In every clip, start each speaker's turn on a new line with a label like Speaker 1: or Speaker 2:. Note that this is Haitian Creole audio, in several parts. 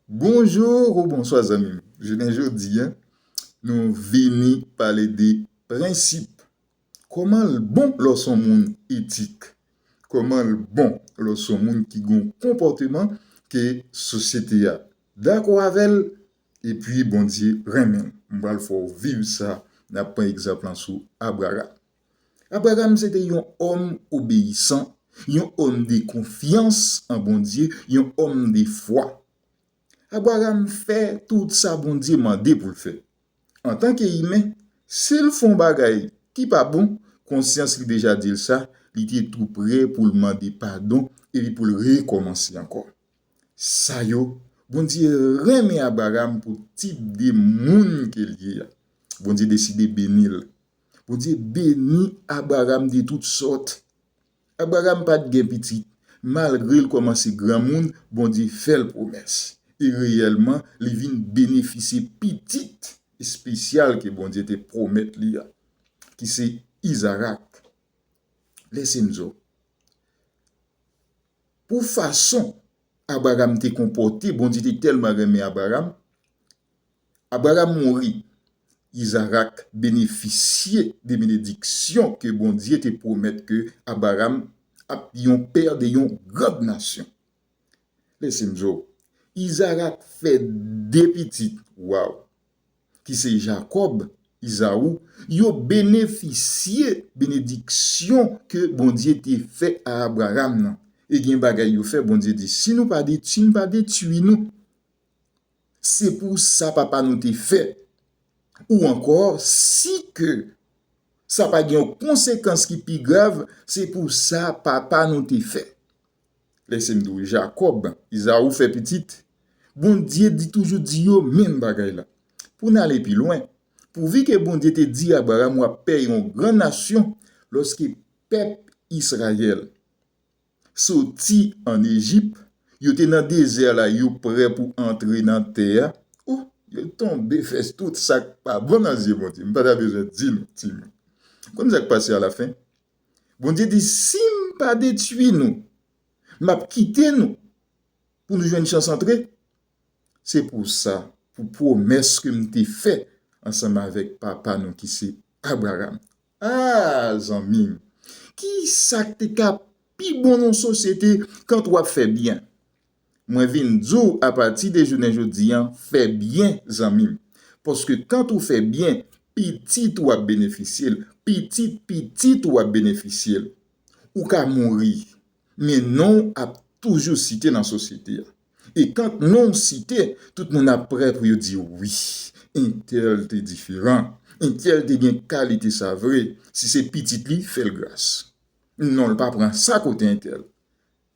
Speaker 1: Bonjour ou bonswa zanmim jounen jodi an nou vini pale de prensip koman l bon lè w son moun etik koman l bon lè w son moun ki gon konpòteman ke sosyete a dakò avè l epi Bondye renmen m m pral fè w viv sa nap pran egzanp lan sou Abraram Abraram se te yon òm obeyisan, yon òm de konfyans an Bondye, yon òm de fwa. Abraram fè tout sa Bondye mande pou l fè. Antanke imen, si l fè yon bagay ki pa bon, konsyans li deja di l sa, li te tou prè pou l mande padon epi pou l rekòmanse ankò. Sa yo, Bondye renmen Abraram pou tip de moun ke l ye a. Bondye deside beni l. Bondye beni Abraram de tout sòt. Abraram pa t gen pitit, malgre l kòmanse granmoun, Bondye fè l pwomès, e reyèlman li vin benefisye pitit espesyal ke Bondye te pwomèt li a, ki se Izarak. Lèse m di w, pou fason Abraram te konpòte, Bondye te tèlman renmen Abraram, Abraram mouri, Izarak benefisye de benediksyon ke Bondye te pwomèt ke Abraram ap yon pè de yon grand nasyon. Lèse m di w, Izarak fè de pitit, waw, ki se Jakòb, Izaou, yo benefisye benediksyon ke Bondye te fè a Abraram nan. E gen bagay yo fè, Bondye di, si nou pa detui m, m pa detui nou. se pou sa papa nou te fè, ou ankò si ke sa pa gen yon konsekans ki pi grav, se pou sa papa nou te fè. Lese m di w, Jakòb, Izaou fè pitit, Bondye di toujou di yo menm bagay la. Pou n ale pi lwen, pouvi ke Bondye te di Abraram w ap pè yon gran nasyon lòske pèp Israël. soti an Ejip, yo te nan dezè la, yo prè pou antre nan tè a, o, yo tonbe fè tout sa k pa bon nan zye Bondye. M pa ta bezwen di nou, timoun. Ou konn sa k pase alafen? Bondye di, Si m pa detwi nou, m ap kite nou pou nou jwenn chans antre. Se pou sa, pou pwomès ke m te fè ansanm avèk papa nou ki se Abraram, Aah zanmim kisak te ka pi bon nan sosyete kant wap fè byen mwen vin diw apati de jounen jodi an fè byen zanmim paske kant ou fè byen pitit ou ap benefisyel pitit pitit ou ap benefisyel ou ka mouri men nonw ap toujou site nan sosyete a. E tank non w site, tout moun ap prè pou yo di w wi, entèl te diferan, entèl te gen kalite sa vre, si se pitit li, fè l gras. Non l pa pran sa kote entèl.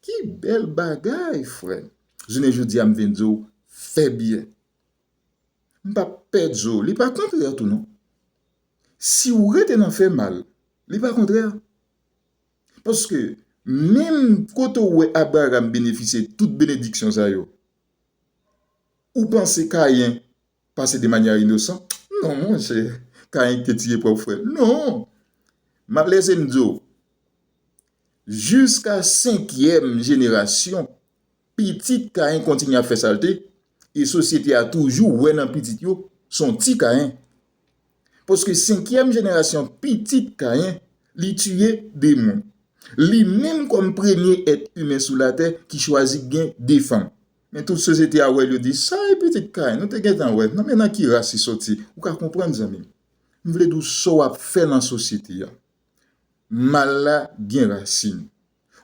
Speaker 1: Ki bèl bagay, frè m! Jounen jodi a m vin di w, fè byen. M pa p pè di w, li pa kontrè tou non. Si w rete nan fè mal, li pa kontrè. Paske, menm kote ou wè Abraram benefisye tout benediksyon sa yo, ou panse Kayen pase de manya inosan? Non, monchè, Kayen ki te tiye pwòp frè l. Non! M ap lese m di w, jiska senkyèm jenerasyon, Pitit Kayen kontinye ap fè salte, e sosyete a toujou wè nan pitit yo son ti Kayen. Paske senkyèm jenerasyon pitit Kayen, li tiye de moun. Li menm kòm premye èt imen sou latè ki chwazi gen de fanm. Men tout sosyete a wè l yo di, sa e pitit Kayen nou te gentan wè, nan men nan ki ras li soti? Ou ka konprann zanmi m. M vle di w sa w ap fè nan sosyete a. Mal la gen rasin.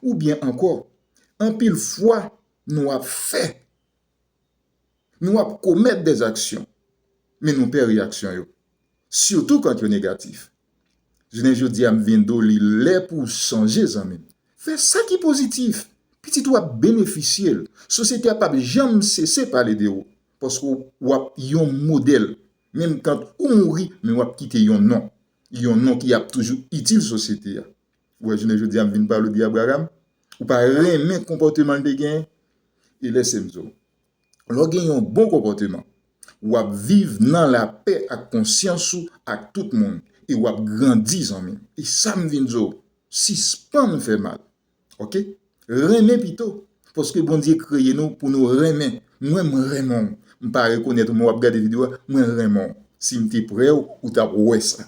Speaker 1: Oubyen ankò, anpil fwa nou ap fè, nou ap komèt dè aksyon, men nou pè reyaksyon yo, sitou kant yo negatif. Jounen jodi a m vin di w li lè pou w chanje zanmi m. Fè sa ki pozitif, pitit ou ap benefisye l, sosyete a pap janm sese pale de ou, paske w ap yon modèl, menm kant ou mouri men w ap kite yon non, yon non ki ap toujou itil sosyete a. Ou wè jounen jodi a m vin pale w de Abraham, ou pa renmen konpòteman l te genyen? E lèse m di w, lè w gen yon bon konpòteman, w ap viv nan lapè ak konsyans ou ak tout moun e w ap grandi zanmi m. E sa m vin di w, sispann fè mal, ok? Renmen pito, paske Bondye kreye nou pou nou renmen. Mwen m renmen w. M pa rekonèt ou men w ap gade video a, mwen renmen w. Si m te pre w, ou t ap wè sa.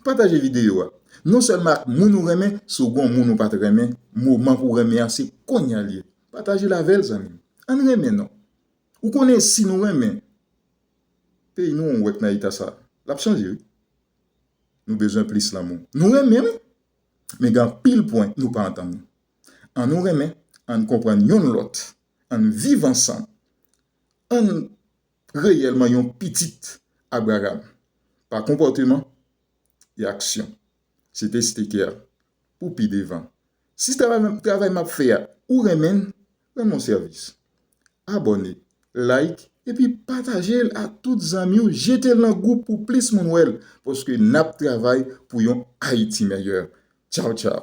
Speaker 1: Pataje video a. Non sèlman ak moun ou renmen, si w gon moun ou pat renmen, moman pou w renmen an se konnya l ye. Pataje l avè l zanmi m. Ann renmen non. Ou konnen si nou renmen peyi nou ou wè k nan eta sa. L ap chanje wi. Nou bezwen plis lanmou. Nou renmen wi. Men gen anpil pwen nou pa antann. An nou renmen, an n konprann yonn lòt, an n viv ansanm, an n reyèlman yon pitit Abraram pa konpòteman e aksyon. Se te Steker pou pi devan. Si travay m ap fè a ou renmen l, nan non sèvis. Abòne, like epi patajel ak tout zanmiw jetel nan gwoup pou plis moun wèl paske nap travay pou yon ayiti mèyè. Tchaw tchaw.